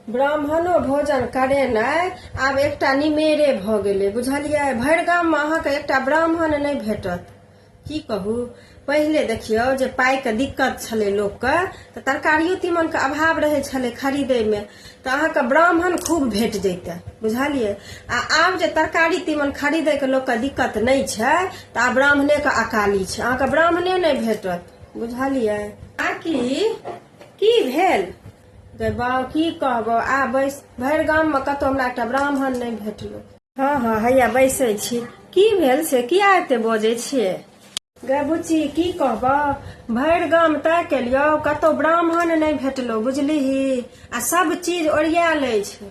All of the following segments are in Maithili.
ब्राह्मणो भोजन करेनाइ आब एकटा निमेरे भऽ गेलै बुझलियै भरि गाममे अहाँके एकटा ब्राह्मण नहि भेटत की कहू पहिले देखियौ जे पाइके दिक्कत छलै लोकके तऽ तरकारियो तीमनके अभाव रहै छलै खरीदैमे तऽ अहाँके ब्राह्मण खूब भेट जैते बुझलियै आ आब जे तरकारी तीमन खरीदैके लोकके दिक्कत नहि छै तऽ आब ब्राह्मणेके अकाली छै अहाँके ब्राह्मणे नहि भेटत बुझलियै आकि की भेल गै बाउ की कहबो आ बैस भरि गाममे कतहु हमरा एकटा ब्राह्मण नहि भेटलो हँ हँ हैया बैसै छी की भेल से किया एते बजै छियै गै बुच्ची की कहबो भरि गाम तय केलियौ कतहु ब्राह्मण नहि भेटलो बुझलिही आ सब चीज ओरियाएल अछि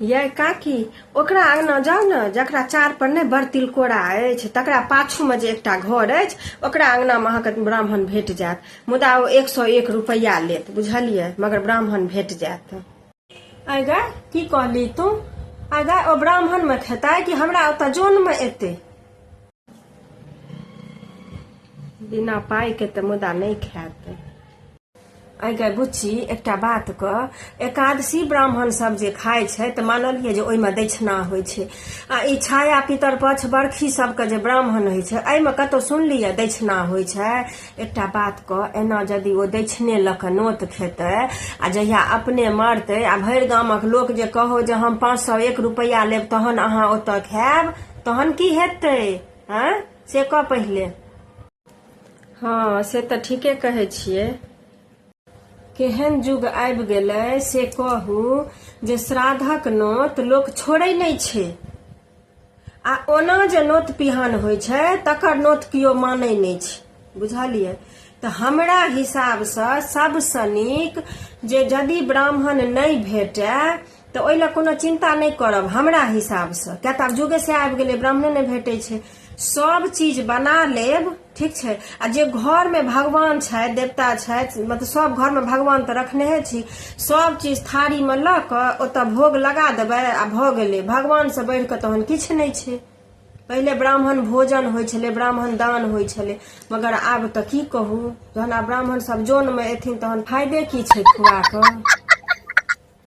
यै काकी ओकरा अङ्गना जाउ ने जकरा चार पर नहि बड़ तिलकोरा अछि तकरा पाछूमे जे एकटा घर अछि ओकरा अङ्गनामे अहाँके ब्राह्मण भेट जायत मुदा ओ एक सए एक रुपैआ लेत बुझलियै मगर ब्राह्मण भेट जायत आगा की कहली तू आगा ओ ब्राह्मणमे खेतै कि हमरा ओतऽ जनमे एतै बिना पाई के तऽ मुदा नहि खायत अगर बुच्ची एकटा बात क एकादशी ब्राह्मण सब जे खाय छै तऽ मानलियै जे ओहिमे दक्षिणा होइ छै आ ई छाया पितर पक्ष बरखी सबके जे ब्राह्मण होइ छै एहिमे कतौ सुनलियै दक्षिणा होइ छै एकटा बात क एना यदि ओ दक्षिणे लऽ कऽ नोत खेतै आ जहिया अपने मरतै आ भरि गामक लोक जे कहो जे हम पाँच सए एक रुपैआ लेब तहन अहाँ ओतऽ खायब तहन की हेतै हँ से कह पहिले हँ से तऽ ठीके कहै छियै केहन युग आबि गेलै से कहू जे श्राद्धक नोत लोक छोड़ै नहि छै आ ओना जे नोत पिहान होइ छै तकर नोत केओ मानै नहि छै बुझलियै तऽ हमरा हिसाबसँ सभसँ नीक जे यदि ब्राह्मण नहि भेटए तऽ ओहि लए कोनो चिन्ता नहि करब हमरा हिसाबसँ किया तऽ आब जुगे से आबि गेलै ब्राह्मणे नहि भेटै छै सब चीज बना लेब ठीक छै आ जे घरमे भगवान छथि देवता छथि मतलब सब घरमे भगवान तऽ रखनेहे छी सब चीज थारीमे लऽ कऽ ओतऽ भोग लगा देबै आ भऽ गेलै भगवानसँ बढ़ि कऽ तहन किछु नहि छै पहिले ब्राह्मण भोजन होइ छलै ब्राह्मण दान होइ छलै मगर आब तऽ की कहू जहन आब ब्राह्मण सब जोनमे एथिन तहन फायदे की छै खुआ कऽ